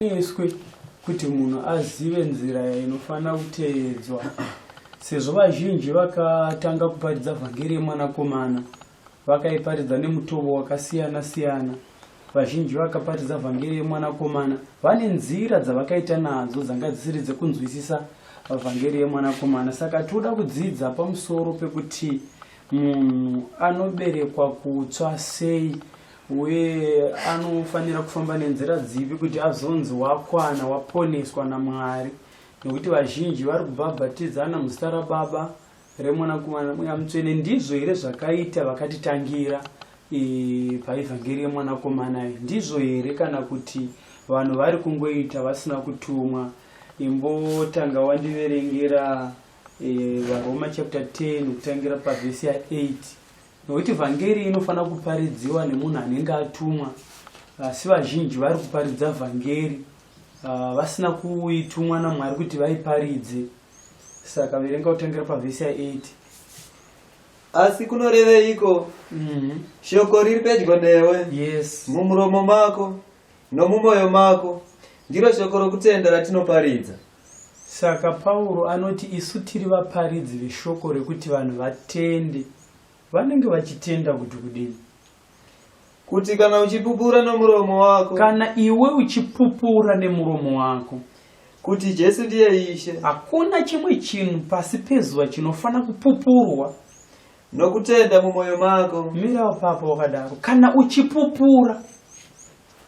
Eswe kuti munhu azive nzira inofanira kuteedzwa sezvo vazhinji vakatanga kuparidza vhangeri yemwanakomana vakaiparidza nemutovo wakasiyana siyana vazhinji vakaparidza vhangeri yemwanakomana vane nzira dzavakaita nadzo dzanga dzisiri dzekunzwisisa vhangeri yemwanakomana saka tinoda kudzidza pamusoro pekuti munhu anoberekwa kutswa sei uye anofanira kufamba nenzira dzipi kuti azonzi wakwana waponeswa namwari nekuti vazhinji vari kubhabhatidzana muzita rababa remwanakomana mweya mutsvene ndizvo here zvakaita vakatitangira paevhangeri yemwanakomana iyi ndizvo here kana kuti vanhu vari kungoita vasina kutumwa imbotanga wandiverengera varoma chapter 10 kutangira pavhesi ya 8 Nokuti vhangeri inofanira kuparidziwa nemunhu anenge atumwa, asi vazhinji vari kuparidza vhangeri uh, vasina kuitumwa naMwari kuti vaiparidze. Saka verenga kutangira pavhesi ya 8. Asi kunoreveiko? Mm -hmm. Shoko riri pedyo newe. Yes. Mumuromo mako nomumoyo mako ndiro shoko rokutenda ratinoparidza. Saka Pauro anoti isu tiri vaparidzi veshoko rekuti vanhu vatende. Vanenge vachitenda kuti kudini? Kuti kana uchipupura nomuromo wako. Kana iwe uchipupura nemuromo wako. Kuti Jesu ndiye Ishe. Hakuna chimwe chinhu pasi pezuva chinofanira kupupurwa. Nokutenda mumwoyo mako. Mirawo papo wakadaro. Kana uchipupura.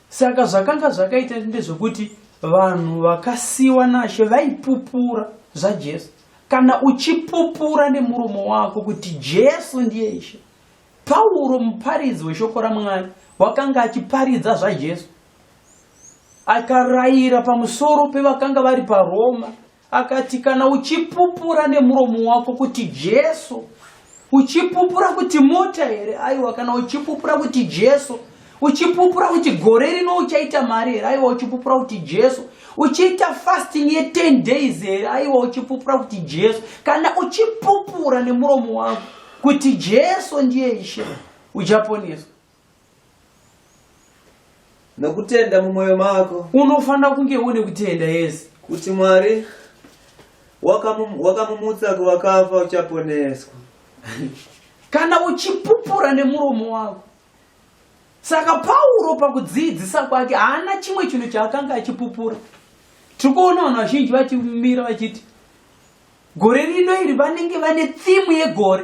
Saka zvakanga zvakaita ndezvekuti vanhu vakasiwa naShe vaipupura zvaJesu. Kana uchipupura nemuromo wako kuti Jesu ndiye Ishe, Pauro muparidzi weshoko raMwari wakanga achiparidza zvaJesu akarayira pamusoro pevakanga vari paRoma Akati, Kana uchipupura nemuromo wako kuti Jesu, uchipupura kuti mota here? Aiwa, kana uchipupura kuti Jesu, uchipupura kuti gore rino uchaita mari here? Aiwa, uchipupura kuti Jesu, uchiita fasting ye 10 days here? Aiwa, uchipupura kuti Jesu. Kana uchipupura nemuromo wako kuti Jesu ndiye Ishe, uchaponeswa. nokutenda mumwoyo mako unofanira kunge une kutenda yes kuti mwari wakamumutsa waka kuvakafa uchaponeswa kana uchipupura nemuromo wako saka pauro pakudziidzisa kwake haana chimwe chinhu chaakanga achipupura tiri kuona vanhu vazhinji vachimira vachiti gore rino iri vanenge vane thimu yegore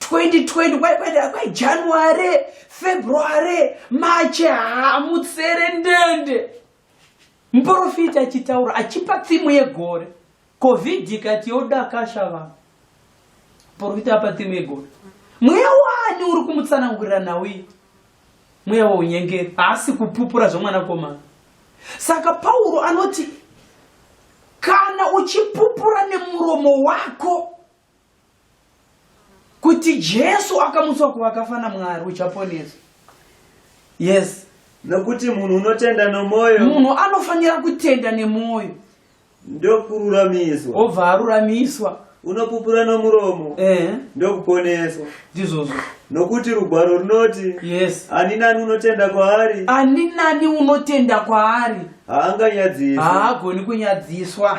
2020 kwaipatira kwajanuary february mache hamutsere ndende muprofiti achitaura achipa tsimu yegore covid ikati yodakasha vanhu muprofiti apa tsimu yegore mweya wani uri kumutsanangurira nhau iyi mweya waunyengeri haasi kupupura zvemwanakomana saka pauro anoti kana uchipupura nemuromo wako kuti jesu akamutswa kuvakafa namwari uchaponeswa yes nokuti munhu unotenda nomwoyo munhu anofanira kutenda nemwoyo ndokururamiswa obva aruramiswa unopupura nomuromo eh. ndokuponeswa ndizvozvo nokuti rugwaro runoti yes ani nani unotenda kwaari ani nani unotenda kwaari haanganyadziswa haagoni kunyadziswa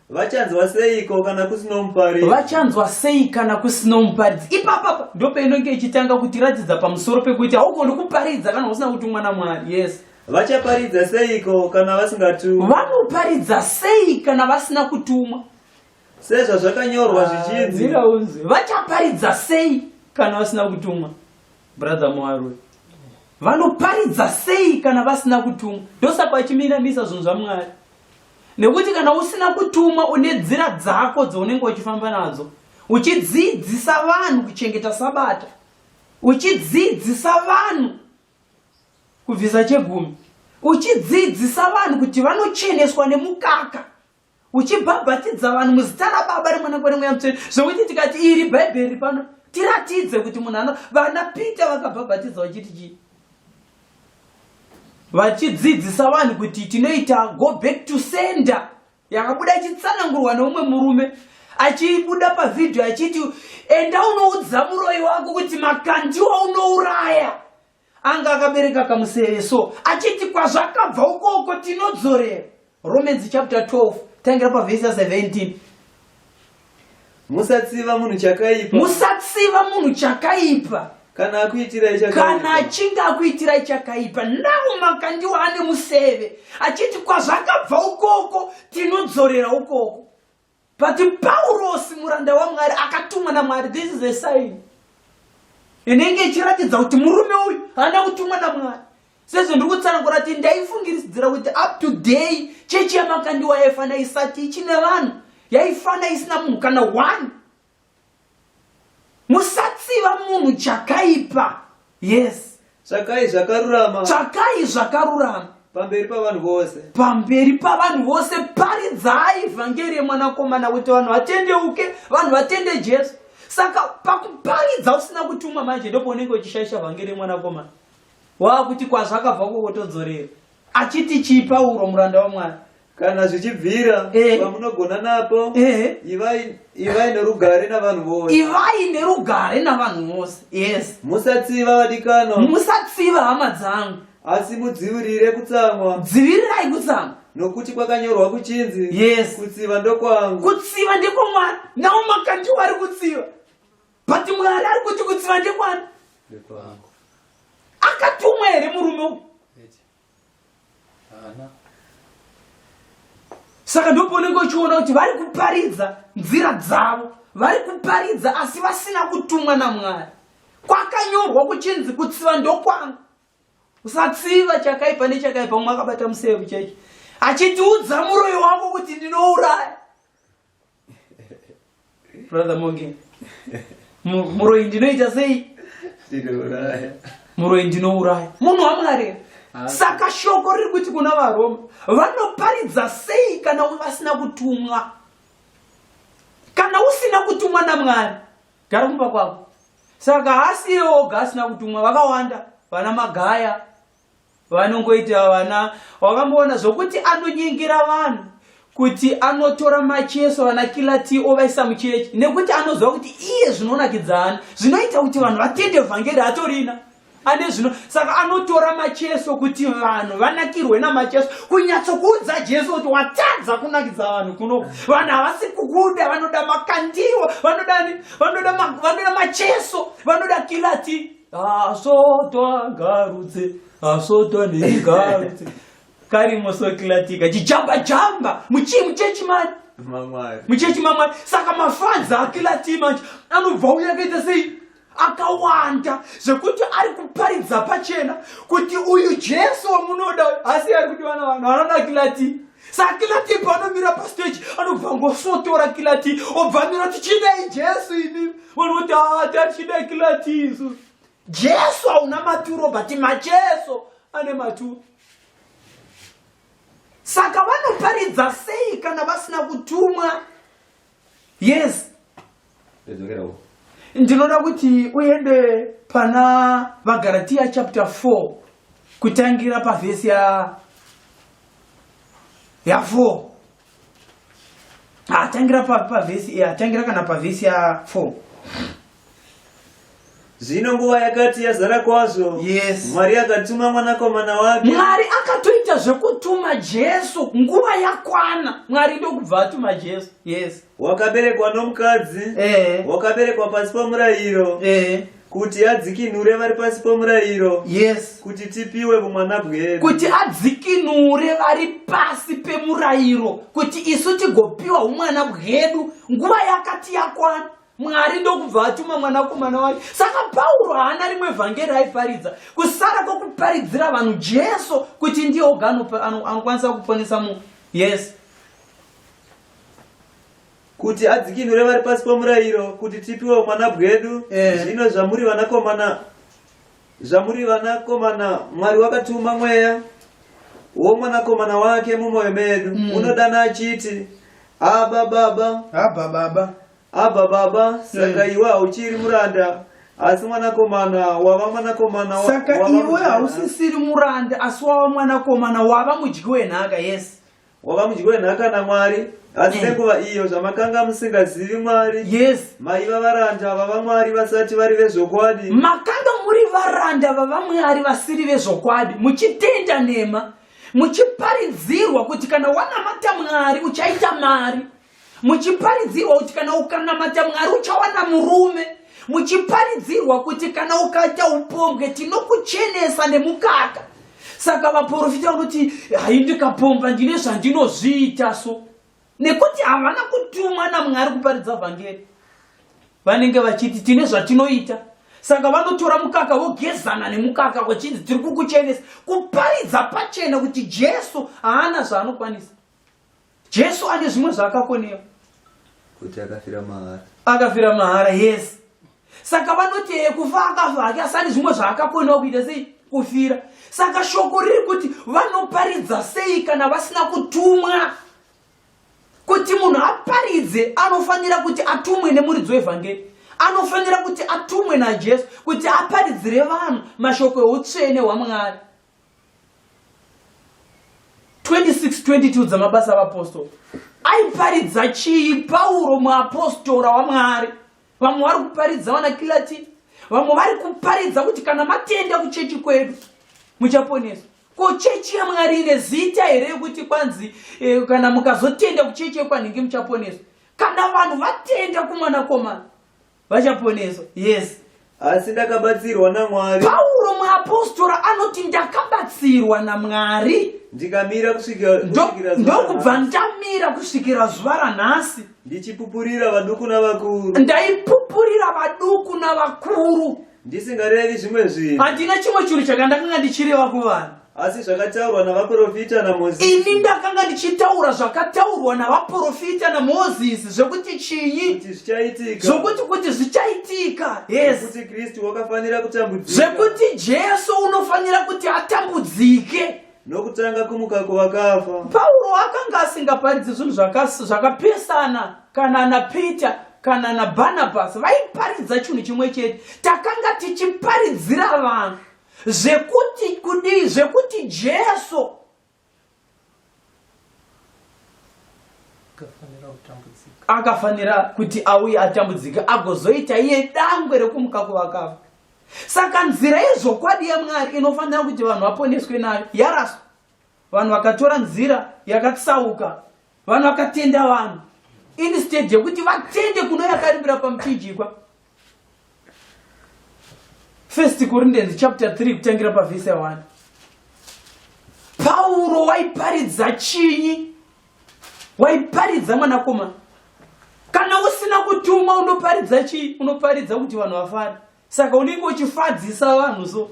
Vachanzwa seiko kana kusino muparidzi? Vachanzwa sei kana kusino muparidzi? Ipapapa ndopainonge ichitanga kutiratidza pamusoro pekuti haugoni kuparidza kana usina kutumwa naMwari. Yes. Vachaparidza seiko kana vasingatumwa? Vanoparidza sei kana vasina kutumwa? Sezvazvakanyorwa ah, zvichinzi. Mira unzwe. Vachaparidza sei kana vasina kutumwa? Brother Mwarwe. Vanoparidza sei kana vasina kutumwa? Ndosaka vachiminamisa zvinhu zvaMwari. nekuti kana usina kutumwa une dzira dzako dzounenge uchifamba nadzo uchidzidzisa vanhu kuchengeta sabata uchidzidzisa vanhu kubvisa chegumi uchidzidzisa vanhu kuti vanocheneswa nemukaka uchibhabhatidza vanhu muzita rababa remwana kwere mweya mutsvene zvokuti tikati iri bhaibheri pano tiratidze kuti munhu ano vana peter vakabhabhatidza vachiti chii vachidzidzisa vanhu kuti tinoita go back to sender yakabuda ichitsanangurwa neumwe murume achibuda pavhidhiyo achiti enda unoudza muroyi wako kuti makandiwa unouraya anga akabereka kamuseve so achiti kwazvakabva ukoko tinodzorera Romans chapter 12 tangira pavhesi 17 musatsiva munhu chakaipa musatsiva munhu chakaipa kana akuitirai chakaipa kana achinge akuitirai chakaipa navo makandiwa ane museve achiti kwazvakabva ukoko tinodzorera ukoko But Paurosi muranda waMwari akatumwa naMwari. This is a sign. Inenge ichiratidza kuti murume uyu haana kutumwa naMwari. Sezvo ndiri kutsanangura kuti ndaifungiridzira kuti up to day chechi yamakandiwa yaifana isati ichine vanhu yaifana isina munhu kana one musatsiva munhu chakaipa yes tsvakai zvakarurama tsvakai zvakarurama pamberi pavanhu vose pamberi pavanhu vose paridzai vhangeri yemwanakomana kuti vanhu vatendeuke vanhu vatende jesu saka pakuparidza usina kutumwa manje ndipo unenge uchishaisha vhangeri yemwanakomana waakuti kwazvakabva kukotodzorera achiti chii pauro muranda wamwari kana zvichibvira eh. pamunogona napo eh. ivai nerugare navanhu vose ivai nerugare navanhu vose yes musatsiva vadikano musatsiva hama dzangu asi mudzivirire kutsamwa dzivirirai kutsamwa nokuti kwakanyorwa kuchinzi yes kutsiva ndokwangu kutsiva ndekwamwari nawo makandiwo ari kutsiva but mwari ari kuti kutsiva ndekwani akatumwa here murume uku Hana. Saka ndipo unenge uchiona kuti vari kuparidza nzira dzavo, vari kuparidza asi vasina kutumwa naMwari. Kwakanyorwa kuchinzi kutsiva ndokwanga. Usatsiva chakaipa nechakaipa umwe akabata museve chaicho. Achitiudza muroyi wako kuti ndinouraya. brother monge muroyi ndinoita sei muroyi ndinouraya munhu wamwari ah. saka shoko riri kuti kuna varoma vanoparidza sei kana vasina kutumwa kana usina kutumwa namwari gara kumba kwavo saka haasi iye oga asina kutumwa vakawanda vana magaya vanongoita vana wakamboona zvokuti anonyengera vanhu kuti anotora macheso vana kilati ovaisa muchechi nekuti anoziva kuti iye zvinonakidzana zvinoita kuti vanhu vatende vhangeri atorina ane zvino saka anotora macheso kuti vanhu vanakirwe namacheso kunyatsokuudza jesu kuti watadza kunakidza vanhu kuno vanhu havasi kukuda vanoda makandiwo vanoda vanoda macheso vanoda kilati asotwa ngarutse asotwa neigarutse karimo sokilatika chichamba chamba muchii muchechi mani muchechi mamwari saka mafadzi akilatii manje anobva uya akaita sei akawanda zvekuti ari kuparidza pachena kuti uyu jesu wamunoda asi ari kuti vana vanhu vanodakilati Saka Kilati paanomira pastage anobva ngosotora Kilati obva mira tichidai Jesu ini vanhu voti ah tachidai Kilati isu Jesu hauna maturo but macheso ane maturo saka vanoparidza sei kana vasina kutumwa yes ndinoda kuti uende pana vagaratiya chapter 4 kutangira pavhesi ya ya 4 atangira pavhesi atangira kana pavhesi ya 4 zvino nguva yakati yazara kwazvo yes. mwari akatuma mwanakomana wake mwari akatoita zvekutuma jesu nguva yakwana mwari ndokubva atuma jesu yes wakaberekwa nomukadzi eh. wakaberekwa pasi pomurayiro eh kuti adzikinure vari pasi pomurayiro yes kuti tipiwe vumwana bwedu kuti adzikinure vari pasi pemurayiro kuti isu tigopiwa umwana bwedu nguva yakati yakwana mwari ndokubva atuma mwanakomana wake saka pauro haana rimwe vhangeri aiparidza kusara kwokuparidzira vanhu jesu kuti ndiye oga anokwanisa kuponesa munhu yes kuti adzikinure vari pasi pomurayiro kuti tipiwe umwana bwedu eh. zvino zvamuri vanakomana Zvamuri vanakomana, Mwari wakatuma mweya womwanakomana wake mumwoyo medu mm. unodana achiti aba baba aba baba aba baba saka mm. iwe hauchiri muranda asi mwanakomana wava mwanakomana wa, saka iwe hausisiri muranda asi wava mwanakomana wava mudyi wenhaka yes wava mudyi wenhaka naMwari asi eh. nenguva iyo zvamakanga musingazivi Mwari yes maiva varanda vava Mwari vasati vari vezvokwadi makanga muri varanda vava Mwari vasiri vezvokwadi muchitenda nhema muchiparidzirwa kuti kana wanamata Mwari uchaita mari muchiparidzirwa kuti kana ukanamata mwari uchawana murume muchiparidzirwa kuti kana ukaita upombwe tinokuchenesa nemukaka saka vaprofita vanoti hai ndikapomba ndine zvandinozviita so nekuti havana kutumwa namwari kuparidza vhangeri vanenge vachiti tine zvatinoita saka vanotora mukaka vogezana nemukaka vachinzi tiri kukuchenesa kuparidza pachena kuti jesu haana zvaanokwanisa Jesu ane zvimwe zvaakakonera kuti akafira mahara. Akafira mahara, yes. Saka vanoti eh, kufa akafa hake asani zvimwe zvaakakonera kuita sei kufira. Saka shoko riri kuti vanoparidza sei kana vasina kutumwa. Kuti munhu aparidze anofanira kuti atumwe nemuridzo wevhangeri. Anofanira kuti atumwe naJesu kuti aparidzire vanhu mashoko eutsvene hwaMwari. 26:22 dzamabasa avapostori aiparidza chii pauro muapostora wamwari vamwe vari kuparidza vanakilatini vamwe vari kuparidza kuti kana matenda kuchechi kwedu muchaponeswa ko chechi yamwari ine zita here yekuti kwanzi eh, kana mukazotenda kuchechi yekwanhingi muchaponeswa kana vanhu vatenda kumwanakomana vachaponeswa yes asi ndakabatsirwa namwari pauro muapostora anoti ndakabatsirwa namwari ndikamira kusvikirandokubva ndamira kusvikira zuva ranhasi ndichipupurira vaduku navakuru ndaipupurira vaduku navakuru ndisingarevi zvimwe zvinhu handina chimwe chinhu chakandakanga ndichireva kuvanhu asi zvakataurwa navaprofita namozisi ini ndakanga ndichitaura zvakataurwa navaprofita namozisi zvekuti chinyi kuti zvichaitika zvokuti kuti zvichaitika yes kuti kristu wakafanira kutambudzika zvekuti jesu unofanira kuti atambudzike nokutanga kumuka kuvakafa pauro akanga asingaparidzi zvinhu zvakapesana kana napeter kana nabarnabhasi vaiparidza chinhu chimwe chete takanga tichiparidzira vanhu zvekuti kudii zvekuti jesu akafanira kuti auye atambudzika agozoita iye dangwe rekumuka kuvakafa Saka nzira yezvokwadi yaMwari inofanira kuti vanhu vaponeswe nayo yaraswa. Vanhu vakatora nzira yakatsauka, vanhu vakatenda vanhu instead yekuti vatende kuno yakaribira pamuchinjikwa. First Corinthians chapter 3 kutangira pavhese 1. Pauro waiparidza chinyi waiparidza mwanakomana kana usina kutumwa unoparidza chii unoparidza kuti vanhu vafare saka unenge uchifadzisa vanhu so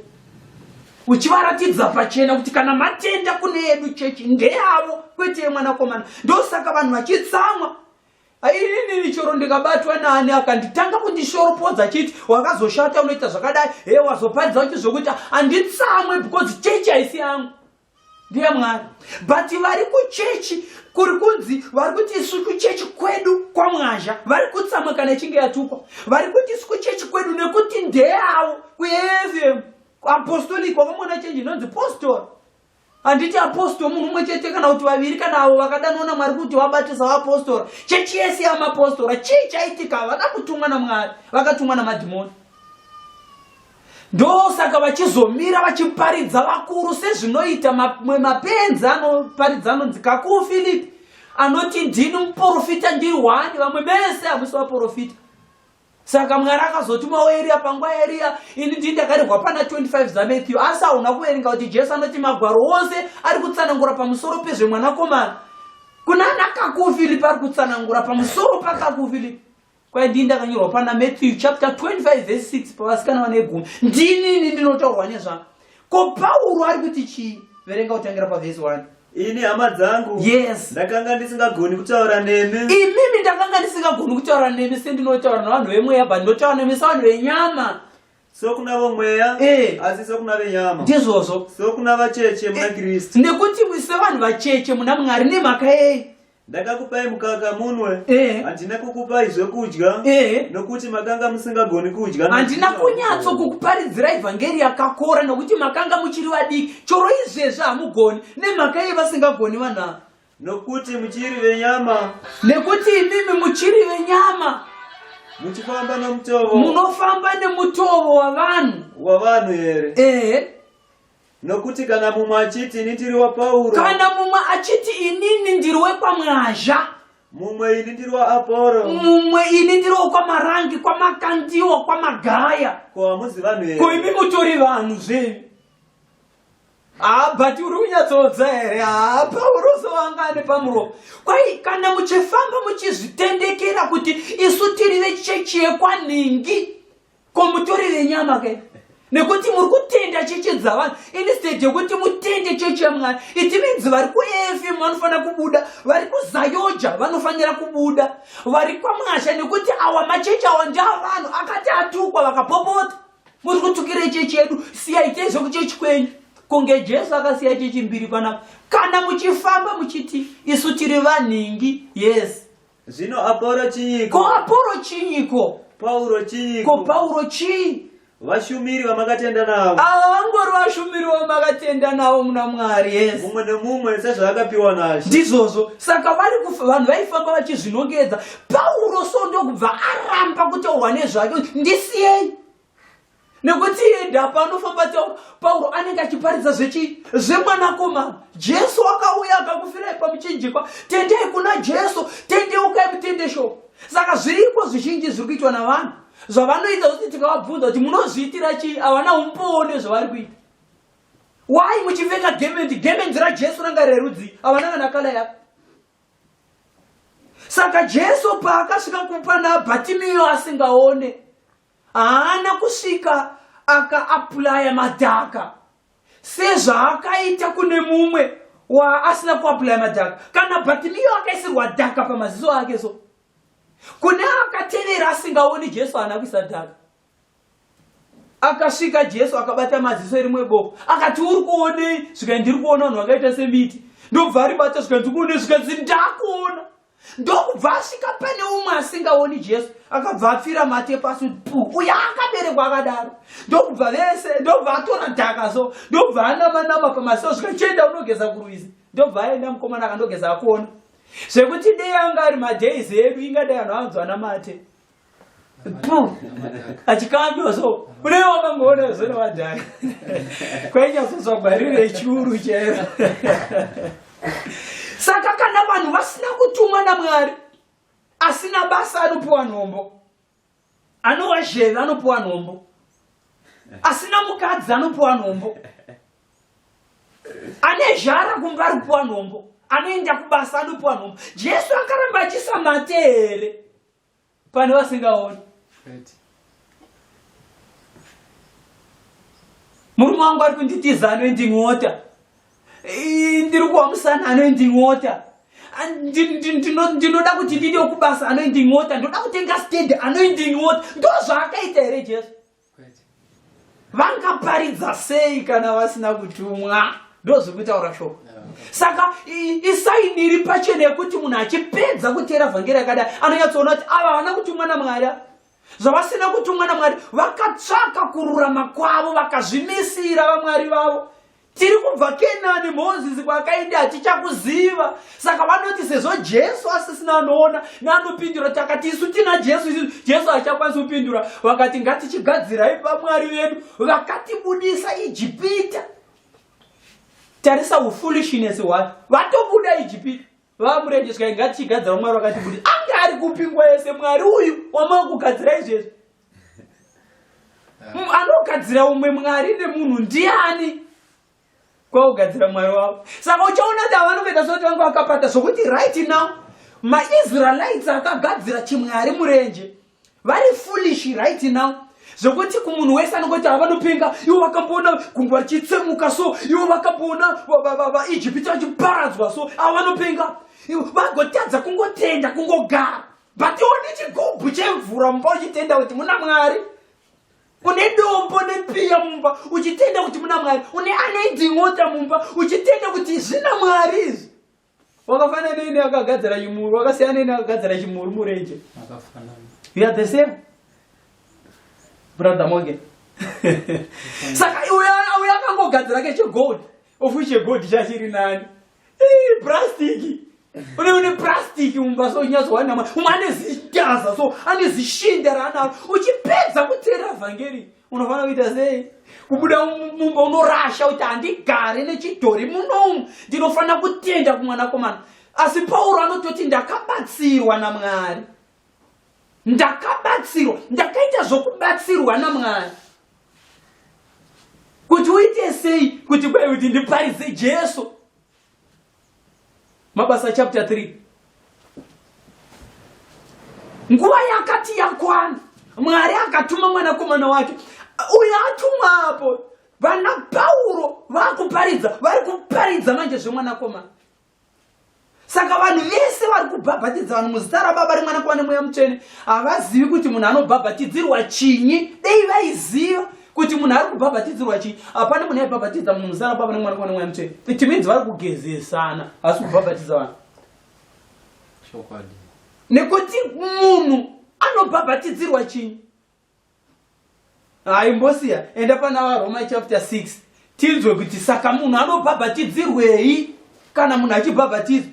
uchivaratidza pachena kuti kana matenda kune yedu chechi ndeyavo kwete yemwanakomana ndosaka vanhu vachitsamwa aiinini choro ndikabatwa naani akanditanga kundishoropodza chiti wakazoshata unoita zvakadai he wazoparidza kuti zvokuti handitsamwe because chechi haisi yangu ndiye mwari but vari kuchechi kuri kunzi vari kuti isu kuchechi kwedu kwamwazha vari kutsamwa kana ichinge yatukwa vari kuti isu kuchechi kwedu nekuti ndeyavo kuefm apostolic wakamona chenji inonzi postori handiti apostori munhu umwe chete kana kuti vaviri kana avo vakadanwa namwari kuti vabatisa vaapostora chechi yese yamapostora chii chaitika havana kutumwa namwari vakatumwa namadhimoni ndosaka vachizomira vachiparidza vakuru sezvinoita mamwe mapenzi anoparidza anonzi kakuu philipi anoti ndini muprofita ndiri hwani vamwe vese hamusi vaprofita saka mwari akazotumawo eriya panguva yeriya ini ndii ndakarehwa pana 25 zamethiyu asi hauna kuverenga kuti jesu anoti magwaro ose ari kutsanangura pamusoro pezvemwanakomana kunana kakuu philipi ari kutsanangura pamusoro pakakuu philipi kwaidii ndakanyorwa pana matthew chapter 25 vese 6 pavasikana vane gumi ndinini ndinotaurwa nezva ko pauro ari kuti chii verenga kutangira pavhesi 1 ini hama dzangu yes ndakanga ndisingagoni kutaura nemi imimi ndakanga ndisingagoni kutaura nemi sendinotaura navanhu vemweya but ndotaura nemi savanhu venyama sokuna vomweya eh. asi sokuna venyama ndizvozvo sokuna vacheche muna eh. kristu nekuti sevanhu vacheche muna mwari nemhaka yei Ndakakupai mukaka munwe, eh. handina kukupai zvekudya eh. nokuti makanga musingagoni kudya. Handina kunyatso kukuparidzira evhangeri yakakora nokuti makanga muchiri vadiki, choro izvezvi hamugoni nemhaka yevasingagoni vanaa nokuti muchiri venyama nekuti imimi muchiri venyama muchifamba nomutovo munofamba nemutovo wavanhu wavanhu here ehe Nokuti kana mumwe achiti ini ndiri waPauro, kana mumwe achiti inini ndiri wekwaMwazha, mumwe ini ndiri waAporo, mumwe ini ndiri wekwamarangi, kwamakandiwa, kwamagaya, ko hamuzi vanhu here? ko imi mutori vanhu zvenyu haa but uri kunyatsodza here haa pauro sowangani pamuromo kwai kana muchifamba muchizvitendekera kuti isu tiri vechechi yekwanhingi ko mutori venyama ke nekuti muri kutenda cheche dzavanhu instead yekuti mutende cheche yamwari iti minzi vari kuefm vanofanira kubuda vari kuzayoja vanofanira kubuda vari kwamwasha nekuti awa macheche awa ndeavanhu akati atukwa vakapopota muri kutukira chechi yedu siyaitei zvekuchechi kwenyu kunge jesu akasiya chechi mbiri panapa kana muchifamba muchiti isu tiri vanhingi yes Zvino Apolo chiiko? Ko Apolo chiiko? Pauro chiiko? Ko Pauro chii? Vashumiri vamakatenda navo. Ava vangori vashumiri vamakatenda navo muna Mwari, yes. Mumwe nemumwe sezvaakapiwa naShe. Ndizvozvo. Saka vari vanhu vaifamba vachizvinongedza. Pauro so ndokubva aramba kutaurwa nezvake ndisiyei. nekuti enda panofamba tauro pauro anenge achiparidza zvechii zvemwanakomana jesu akauya akakufirai pamuchinjikwa tendei kuna jesu tendeukai mutendesho saka zviriko zvizhinji zviri kuitwa navanhu zvavanoita kuti tikavabvunza kuti munozviitira chii havana umbone zvavari kuita wai muchipfeka gemendi gemendi rajesu ranga rerudzi havana kana kala yako saka jesu paakasvika kupa nabhatimiyo asingaone haana kusvika akaapulaya madhaka sezvaakaita kune mumwe waasina kuapulaya madhaka kana bhatimiyo akaisirwa dhaka pamaziso ake so kune akatevera asingaoni jesu haana kuisa dhaka akasvika jesu akabata maziso erimwe boko akati uri kuonei zvikai ndiri kuona vanhu vakaita semiti ndobva aribata zvikai ndiri kuonei zvikai zi ndakuona ndokubva asvika pane umwe asingaoni jesu akabva apfira mate pasi pu uya akaberekwa akadaro ndokubva vese ndokubva atora dhaka so ndokubva anamanama pamaso svika chienda unogeza kurwizi ndokubva aenda mukomana akandogeza akuona zvekuti dei anga ari madays edu ingadai anhu anzwa namate Pum! Achikandwa so. Unenge wakamboona zona vadhani. Kwainyazozwa gwarire churu chero. Saka kana vanhu vasina kutumwa naMwari asina basa anopiwa nhombo. Anowa zheve anopiwa nhombo. Asina mukadzi anopiwa nhombo. Ane zhara kumba anopiwa nhombo. Anoenda kubasa anopiwa nhombo. Jesu akaramba achisamate here? pane vasingaoni murume wangu ari kunditiza anoinding'ota ndiri kuwamusana anoinding'ota ndinoda kuti ndide kubasa anoinding'ota ndoda kutenga stedi anoinding'ota ndozvaakaita here jesu vangaparidza sei kana vasina kutumwa ndozviri kutaura shoko saka isaini iri pachena yekuti munhu achipedza kuteera vhangeri yakadai anonyatsoona kuti ava havana kutumwa namwari zvavasina kutumwa namwari vakatsvaka kururama kwavo vakazvimisira vamwari vavo Tiri kubva Kenani, Mozisi kwaakaenda hatichakuziva. Saka vanoti sezvo Jesu asisina anoona neanopindura, takati isu tina Jesu, isu Jesu hachakwanisi kupindura. Vakati ngatichigadzirai vamwari vedu, vakatibudisa Ijipita. Tarisa ufulishinesi hwacho, vatobuda Ijipita vamurenjeswa ingati chigadzira mwari wakati kuti anga ari kupingwa yese mwari uyu wamava kugadzira izvezvi anogadzira umwe mwari nemunhu ndiani kwaugadzira mwari wavo saka uchaona kuti ava vanokuita sekuti vange vakapata zvokuti right now maisraelites akagadzira chimwari murenje vari foolish right now zvokuti kumunhu wese anongoti ava vanopinga ivo vakamboona gungwa richitsemuka so ivo vakamboona vaijipita vachiparadzwa so ava vanopinga vagotadza kungotenda kungogara but une chigubhu chemvura mumba uchitenda kuti muna mwari une dombo nepiya mumba uchitenda kuti muna mwari une anoiding'ota mumba uchitenda kuti zvina mwari izvi wakafanana neine akagadzira chimuru wakasiyana neine akagadzira chimuru murenje you are the same brother moge saka uyo akangogadzira kechegold ofu chegold chachiri nani Ii brastiki. Une une brastiki mumba so nyazo wana mwa. Umwe ane zitaza so ane zishinda rana. Uchipedza kutera vhangeri. Unofana kuita sei? Kubuda mumba unorasha uta andigare nechidhori munomu. Ndinofana kutenda kumwana komana. Asi Pauro anototi ndakabatsirwa naMwari. ndakabatsirwa ndakaita zvokubatsirwa namwari kuti uite sei kuti kwai kuti ndiparidze jesu mabasa chapter 3 nguva yakati yakwana mwari akatuma mwanakomana wake uyo atumwa apo vana pauro vakuparidza vari kuparidza manje zvemwanakomana saka vanhu vese vari kubhabhatidza vanhu muzita rababa rimwana kuva nemweya mutsvene havazivi kuti munhu anobhabhatidzirwa chinyi dei vaiziva kuti munhu ari kubhabhatidzirwa chii hapana munhu aibhabhatidza munhu muzita rababa nemwana kuva nemweya mutsvene it means vari kugezesana havasi kubhabhatidza vanhu nekuti munhu anobhabhatidzirwa chinyi haimbosiya enda pana varoma chapter 6 tinzwe kuti saka munhu anobhabhatidzirwei kana munhu achibhabhatidzwa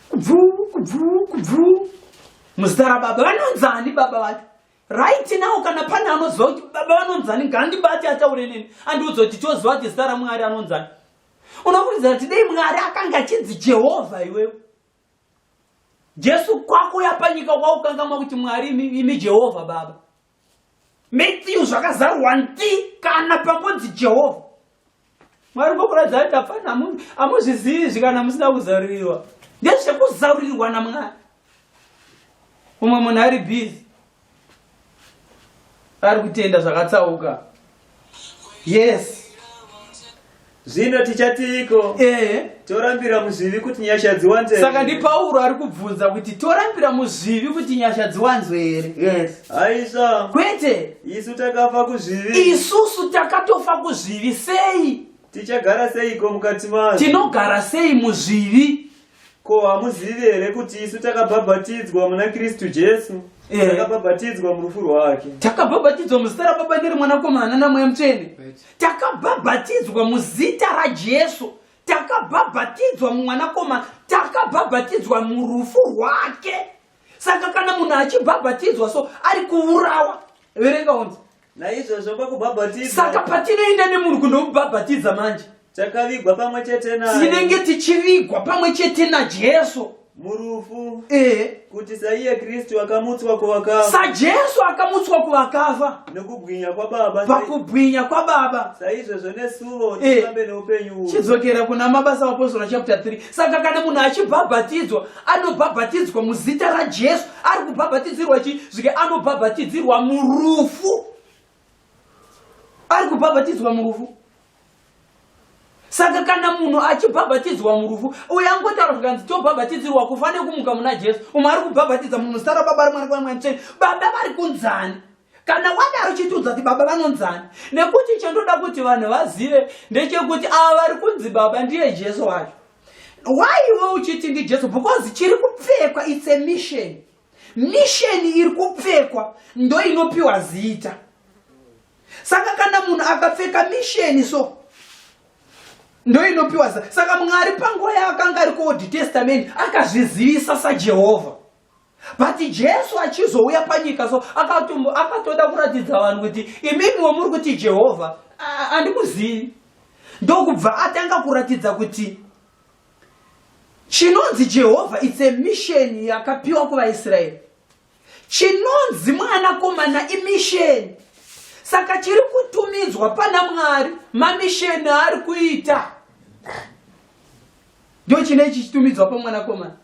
kubvuu kubvuu kubvuu muzita rababa vanonzani baba vacho right now kana pane anoziva kuti baba vanonzani ngandibati ataure neni andiudza kuti choziva kuti zita ramwari anonzani unokurudzira kuti dei mwari akanga achinzi jehovha iwewe Jesu kwako yapanyika kwaukangamwa kuti Mwari imi Jehovha Baba. Matthew zvakazarwa nti kana pangonzi Jehovha. Mwari ngokuratidza kuti apfana amuzvizivi zvikana musina kuzarurirwa. Ndezvekuzarurirwa naMwari. Umwe munhu ari busy ari kutenda zvakatsauka yes zvino tichatiiko eh. torambira muzvivi kuti nyasha dziwanzwe saka ndipauro ari kubvunza kuti torambira muzvivi kuti nyasha dziwanzwe here yes. aisa kwete isu takafa kuzvivi isusu takatofa kuzvivi sei tichagara seiko mukati mazvo tinogara sei muzvivi Ko hamuzivi here kuti isu takabhabhatidzwa muna Kristu Jesu? Eh. Takabhabhatidzwa murufu rwake. Takabhabhatidzwa muzita raBaba neri Mwanakomana naMweya Mutsvene. Takabhabhatidzwa muzita raJesu. Takabhabhatidzwa mumwanakomana. Takabhabhatidzwa murufu rwake. Saka kana munhu achibhabhatidzwa so ari kuurawa. Verenga onzi. Naizvozvo pakubhabhatidza. Saka patinoenda nemunhu kunomubhabhatidza manje. Takavigwa pamwe chete naye. Tinenge tichivigwa pamwe chete naJesu. Murufu. Eh. Kuti saiye Kristu akamutswa kuvakafa. SaJesu akamutswa kuvakafa. Nekubwinya kwaBaba. Pakubwinya kwaBaba. Saizvozvo nesuvo eh. tirambe neupenyu. Chidzokera kuna mabasa apostle chapter 3. Saka kana munhu achibhabhatidzwa anobhabhatidzwa muzita rajesu ari kubhabhatidzirwa chii zvike anobhabhatidzirwa murufu ari kubhabhatidzwa murufu saka kana munhu achibhabhatidzwa murufu uye angotaura zvikanzi tobhabhatidzirwa kufa nekumuka muna jesu umwe ari kubhabhatidza munhu zita rababa rimwanakwamwamtsveni baba vari kunzani kana wadaro chitiudza kuti baba vanonzani nekuti chandoda kuti vanhu vazive ndechekuti ava vari kunzi baba ndiye jesu wacho waiwe uchiti ndijesu because chiri kupfekwa its a mission misheni iri kupfekwa ndo inopiwa zita saka kana munhu akapfeka misheni so ndo inopiwa zita saka mwari panguva yaakanga ari kuold testament akazvizivisa sajehovha but jesu achizouya panyika so akatumbo akatoda kuratidza vanhu kuti imimiwo muri kuti jehovha andikuzivi ndokubva atanga kuratidza kuti chinonzi jehovha its a mission yakapiwa kuvaisraeri chinonzi mwanakomana imisheni saka chiri kutumidzwa pana mwari mamisheni aari kuita ndochine chichitumidzwa pamwanakomana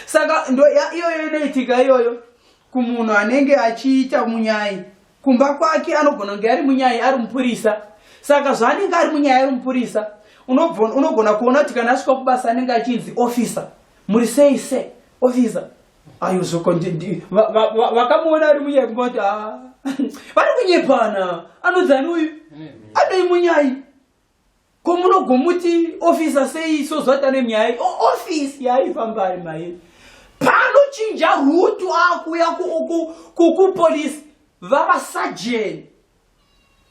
saka ndo iyoyo inoitika iyoyo kumunhu anenge achiita munyai kumba kwake anogona kunge ari munyai ari mupurisa saka zvaanenge ari munyai ari mupurisa unogona kuona kuti kana asvika kubasa anenge achinzi officer muri sei se officer ayo zvoko vakamuona ari munyai kumba kuti ah, vari kunyepana anonzi ani uyu anoi munyai ko munogomuti ofisa sei so zvata nemyaya ofisi yaifambari maye panochinja rutu akuya kupolisi vavasajeni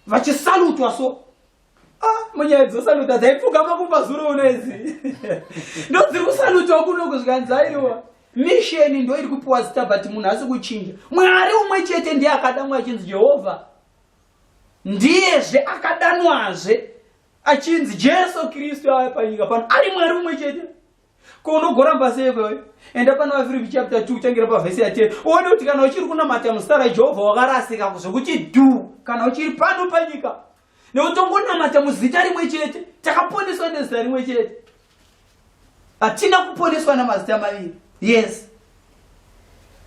vachisalutwa so Ah, munyaya dzosaluta dzaipfugama kumba zuro uno idzi ndodziri kusalutwa kuno kuzvikanzi aiwa misheni ndo iri kupiwa zita but munhu asi kuchinja mwari umwe chete ndiye akadamwa achinzi jehovha ndiyezve akadanwazve achinzi jesu kristu ave panyika pano ari mwari umwe chete ko unogoramba sei kwewe enda pana vafiripi chapter 2 uchangira pavhesi yatee uone kuti kana uchiri kunamata muzita rajehovha wakarasika kuzvekuti du kana uchiri pano panyika nekuti tongonamata muzita rimwe chete takaponeswa nezita rimwe chete hatina kuponeswa namazita maviri yes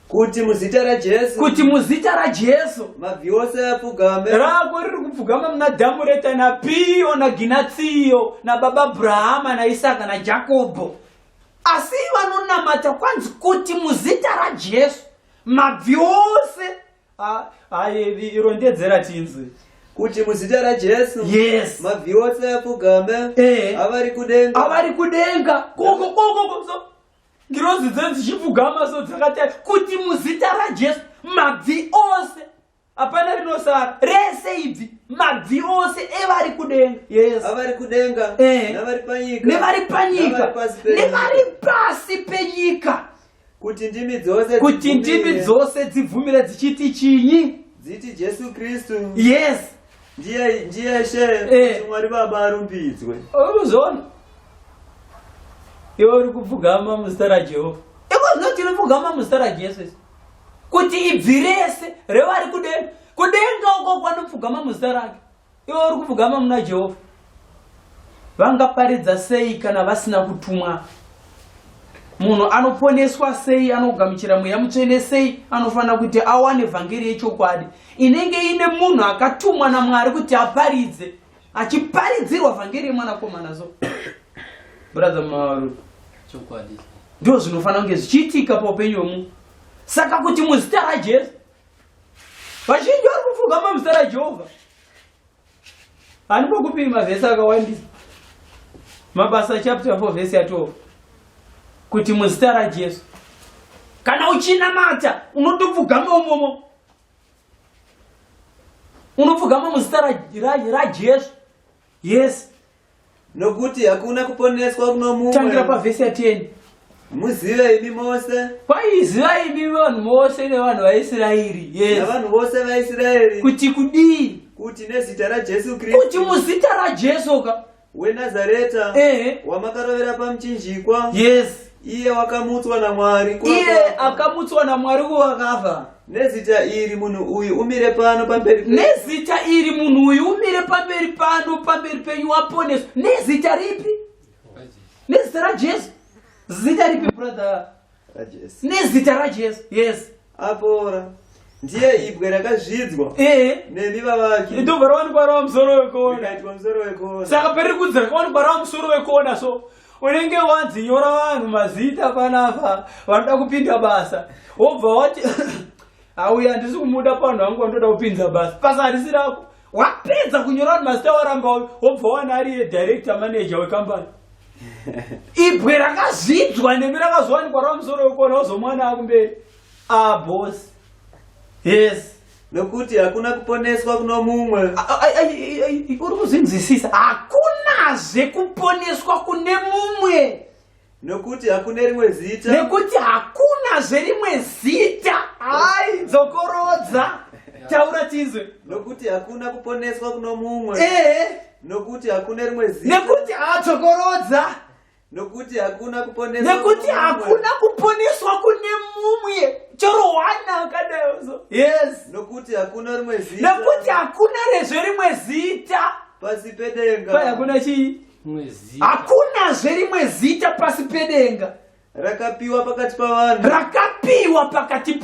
kuti muzita rajesu kuti muzita rajesu mabvi ose apfugame rako riri kupfugama muna dhamu reta napiyo naginatsiyo nababa abrahama naisaka najakobho asi vanonamata kwanzi kuti muzita rajesu mabvi ose Ayi irondedzera tinzwe kuti muzita raJesu yes mabvi ose apfugame eh. avari kudenga avari kudenga koko koko koso ngirozi dzenzi dzichipfugama so dzakati kuti muzita raJesu mabvi ose hapana rinosara rese ibvi mabvi ose evari kudenga yes avari kudenga eh. nevari panyika nevari panyika nevari pasi penyika kuti ndimi dzose kuti ndimi dzose dzibvumire dzichiti chinyi dziti jesu kristu yes ndiye ndiye she eh. kuti mwari baba arumbidzwe urikuzviona iwe uri kupfugama muzita rajehovha ikozino tiri pfugama muzita rajesu isi kuti ibvi rese revari kudenga kudenga uko kwanopfugama muzita rake Iwe uri kupfugama muna Jehovha. Vangaparidza sei kana vasina kutumwa? Munhu anoponeswa sei, anogamuchira mweya mutsvene sei, anofanira kuti awane vhangeri yechokwadi inenge ine munhu akatumwa naMwari kuti aparidze, achiparidzirwa vhangeri yemwanakomana so bradha maru chokwadi ndizvo zvinofanira kunge zvichiitika paupenyu hwemunhu saka kuti muzita rajesu vazhinji vari kufunga pamuzita rajehovha handi pokupiri mavhesi akawandisa mabasa chapter 4 vhesi ya 12 kuti muzita rajesu kana uchinamata unotopfugama umomo unopfugama muzita rajesu yes nokuti hakuna kuponeswa kuno mumwe tangira pavhesi yateni muzive imi mose kwaiziva imi vanhu vose nevanhu vaisraeri yes navanhu vose vaisraeri kuti kudii kuti nezita rajesu kristu kuti muzita rajesu ka wenazareta ehe wamakarovera pamuchinjikwa yes iye wakamutswa namwari iye akamutswa namwari kuvakafa nezita iri munhu uyu umire pano pamberi nezita iri munhu uyu umire pamberi pano pamberi penyu waponeswa nezita ripi nezita rajesu zita ripi brother nezita rajesu yes apora ndiye ibwe rakazvidzwa eh. nemi vavaki ndobva rawanikwa rava musoro wekona musoro wekona saka pari kudzi rakawanikwa rava musoro wekona so unenge wanzi nyora vanhu mazita panapa vanoda kupinda basa wobva wati auya handisi kumuda panhu vangu vanotoda kupinza basa basa handisi rako wapedza kunyora vanhu mazita waramba uyu wobva wana ariye director manager wekambani ibwe rakazvidzwa nemi rakazowanikwa rava musoro wekona wozomwana akumberi abosi ah, yes nokuti hakuna kuponeswa kuno mumwe uri kuzvinzwisisa hakunazve kuponeswa kune mumwe Nokuti hakuna rimwe zita. Nekuti hakuna zverimwe zita. Ai, dzokorodza. Taura tinzwe. Nokuti hakuna kuponeswa kuno mumwe. Eh. Nokuti hakuna rimwe zita. Nekuti adzokorodza. Nokuti hakuna kuponeswa. Nekuti hakuna kuponeswa kune mumwe. Choro wana akadaizo. Yes. Nokuti hakuna rimwe zita. Nekuti hakuna rezve rimwe zita. Pasi pedenga. Paya kuna chii? hakunazve rimwe zita pasi pedenga rakapiwa pakati pavanhu rakapiwa pakati